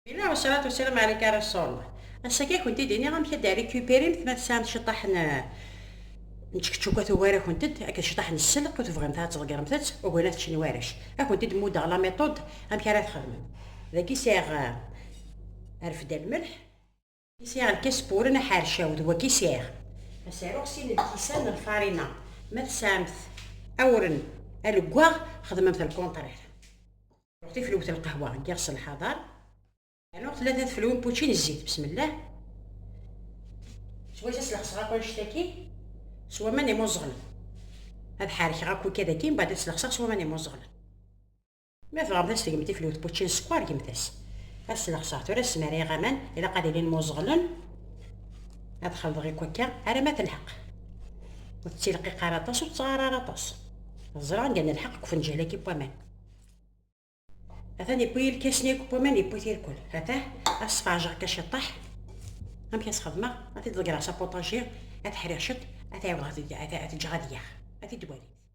Ila wasalaat wasalam ɛalik a Rasul. Ass-agi ad kent-id iniɣ amek ad d-rikupirimt ma tesɛamt ciṭaḥ n n tčekčuka tugar-akent-d akked ciṭaḥ n sselq ur tebɣimt ara ad tḍeggremt-tt, ugin ad t-ččen warrac. Ad kent-id muddeɣ la méthode amek ara txedmem. Dagi sɛiɣ rfed almelḥ. Isiɣ n Kespuren aḥercaw d wagi sɛiɣ. Asaruɣ sin n lkisan n lfarina. Ma tesɛamt awren aleggaɣ xedmemt lkuntrir. Aruɣ tiflwt n lqahwa n yiɣes n lḥaḍar. Aruɣ tlata tfelwin n pučči n zzit besmellah. S wass-as lexseɣ akk annect-agi s waman imuẓeɣlen. Ad ḥerkeɣ akk ikad-agi mbaɛd ad t-lexseɣ s waman imuẓeɣlen. Ma tebɣamt ad tgemt iflewt n wučči n sskeṛ, gemt-as. Ad sneɣseɣ tura smarayeɣ aman, ilaq ad ilin muẓeɣlen. Ad xelḍeɣ akk akka ara ma telḥeq. Ur tettilqiq ara aṭas, ur tettɣar ara aṭas. Ẓriɣ anda nelḥeq deg ufenǧal-agi n waman. Atan yewwi ilkasen-agi n waman, yewwi tirkul. Atah, ad sfeɛjeɣ akka ciṭṭaḥ. Amek ad s-xedmeɣ? Ad t-id-ḍeggreɣ s apuṭaji, ad t-ḥriɣ ciṭ, ad t-ɛiwdeɣ ad t-ǧǧeɣ ad yaɣ. A t-id-twalimt.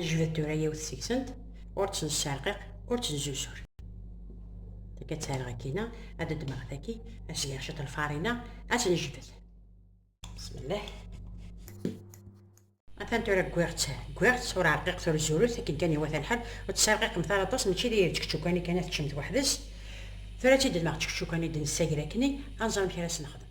Anejbed tura yiwet seg-sent, ur tt-nesserqiq, ur tt-nzuzur. Akka ad tt-rreɣ akkina, ad ddmeɣ taki, ad s-geɣ ciṭ lfarina, ad tt-nejbed. Bismillah. Atan tura gwiɣ-tt, gwiɣ-tt, ur rqiqet ur zurut, akken kan iwata lḥal, ur tt-serqiqemt ara aṭas, mačči d čekčukani kan ad teččemt weḥd-s. Tura ad tt-id-ddmeɣ čekčukani d-nessager akkni, ad nẓer amek ara s-nexdem.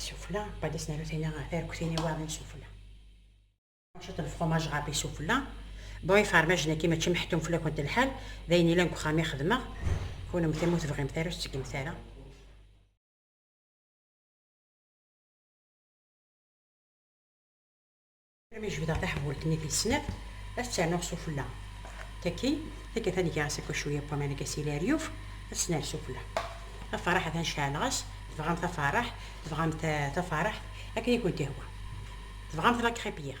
Isufla, qbala s-naru tina tarektin iwaɣen isufla. Cwiṭ n lefromaj ɣer isufla. Bon, ifermajen-agi mačči meḥtum fell-akent lḥal, d ayen ilan deg uxxam i xedmeɣ. Kunemti ma ur tebɣimt ara, ur tettgemt ara. Armi jebdeɣ taḥbult-nni tis snat, ad tt-rnuɣ sufella. Takin, takat ad geɣ asako cwiya n waman akka s ilaryuf, ad tt-nerr sufella. Taferraḥ atan ceɛleɣ-as, tebɣam taferraḥ, tebɣam taferraḥt, akken i kent-ihwa. Tebɣam tlakripyir.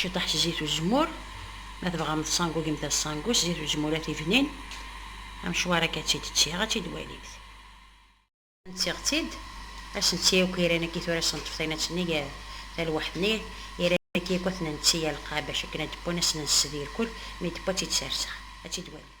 Ciṭaḥ s zzit uzemmur, ma tebɣam tṣangugemt aṣangu s zzit uzemmur a tibnin, amecwar akka ad tt-id-ttiɣ, ad tt-id-walimt. Ntiɣ-tt-id, ad s-netti akk iran akk i tura s-neṭṭef taynatt-nni gar talwaḥt-nni, iran akk akk ad ten-netti alqab bac akken ad d-wwan, ad s-nensed irkul, mi d-wwa ad tt-id-serseɣ, ad tt-id-walimt.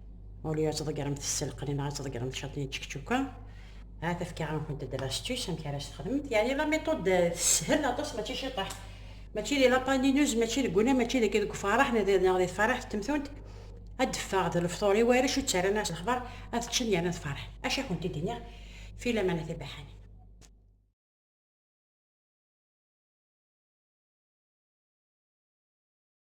Au lieu ad tḍeggremt sselqen neɣ ad tḍeggremt catiyen d čekčuka, ahat efkaɣ-nkent-d l'astuce amek ara s-texdmemt, yeɛni la méthode teshel aṭas mačči ciṭeḥ, mačči di la panineuse, mačči deg unnar, mačči deg deg ufaraḥ neɣ di neɣ di tfaraḥt temtunt, ad d-teffeɣ d lefṭur i warrac ur ttarran ara s lexbar, ad ččen yerna ad ferḥen. Acu i kent-id-iniɣ fi lamana tibaḥanin?